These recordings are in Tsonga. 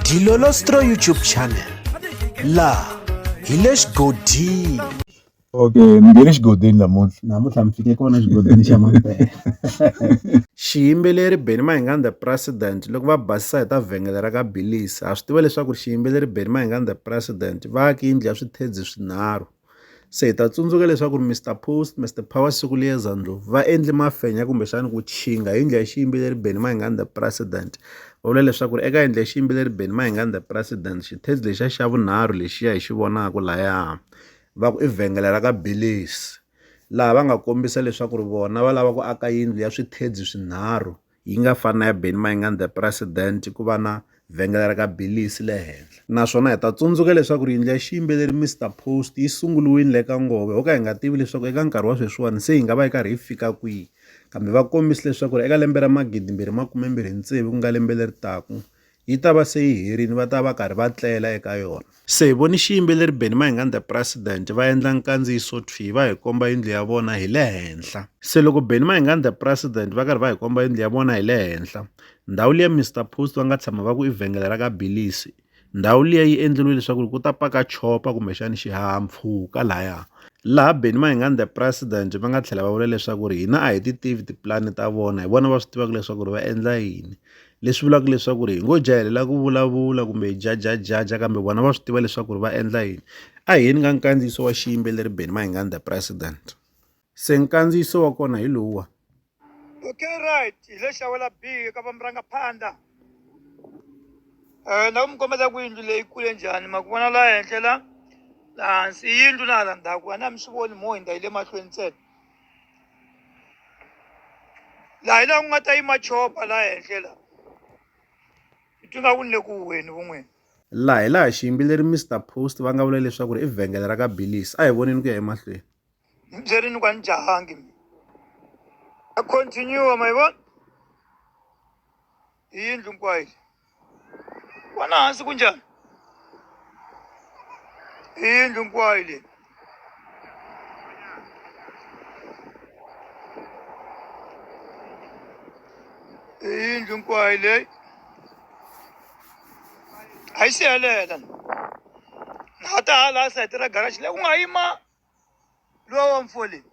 Dilolostro YouTube channel laha hi le xigodini okay ni nge le xigodini namuntlha namuntlha mi fike kona xigodini xa mampela xiyimbeleri beni mahingani the president loko va basisa hi ta vhengele ra ka bilisi ha swi tiva leswaku xiyimbeleri beni mahingani the president va yaki yindlu ya swithedzi swinharhu se hi ta tsundzuka leswaku ri Mister Post Mister Power siku liyeza ndlopfu va endli mafenya kumbexana ku chinga hi ndlela ya xiyimbeleri Benny Mayengani the president va vula leswaku ri eka endla ya xiyimbeleri Benny Mayengani the president xithezi lexiya xa vunharhu lexiya hi xi vonaka laya va ku i vhengele ra ka Belies laha va nga kombisa leswaku ri vona va lava ku aka yindlu ya swithezi swinharhu. yi nga fani na ya Benny Mayengani the President ku va na vhengele ra ka Billies le henhla naswona hi ta tsundzuka leswaku ri yindlu ya xiyimbeleri Mister Post yi sunguriwile le ka Nghovo ho ka hi nga tivi leswaku eka nkarhi wa sweswiwani se yi nga va yi karhi yi fika kwihi kambe va kombise leswaku ri eka lembe ra magidimbirhi makumembirhi tsevu ku nga lembe leri taka yi ta va se yi herile va ta va karhi va tlela eka yona se hi voni xiyimbeleri benny mahingan the president va endla nkandziyiso thwi va hi komba yindlu ya vona hi le henhla se loko benny mahingan the president va karhi va hi komba yindlu ya vona hi le henhla ndhawu liya mr post va nga tshama va ku i vhengele ra ka bilisi ndhawu liya yi endleriwe leswaku ku ta paka chopa kumbexani xihahampfhuka lahaya laha benny mahingan the president va nga tlhela va vula leswaku ri hina a hi ti tivi tipulani ta vona hi vona va swi tivaka leswaku ri va endla yini Leswi vulaka leswaku ri hi ngo jahelela ku vulavula kumbe hi jajajaja kambe vona va swi tiva leswaku ri va endla yini a hi yeni ka nkandziyiso wa xiyimbeleri beni mahingani the president se nkandziyiso wa kona hi lowuwa okay right hi le xawela b eka vamurangaphandla um na ku mi kombela ku yindlu leyi kule njhani ma ku vona laha henhla la laha hansi yindlu na hala ndzhaku a na mi swi voni mo hindza yi le mahlweni ntsena laha hi laha ku nga ta yima chopa laha henhla laha hi twi nga ku ni le ku huweni vun'wini laha hi laha xiyimbeleri mr post va nga vula leswaku ri i vhengele ra ka billis a hi voneni ku ya emahlweni ni byerini ku a ni jahangi mi a continue ma yi vona hi yindlu hinkwayo vona hansi ku njhani hi yindlu hinkwayo leyi hi yindlu hinkwayo leyi a yi siyelela na ta hala sayiti ra garaji leyi ku nga yima lowa wa mfo leyi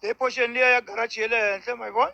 leyi poxeni liya ya garaji ye le henhla ma yi vona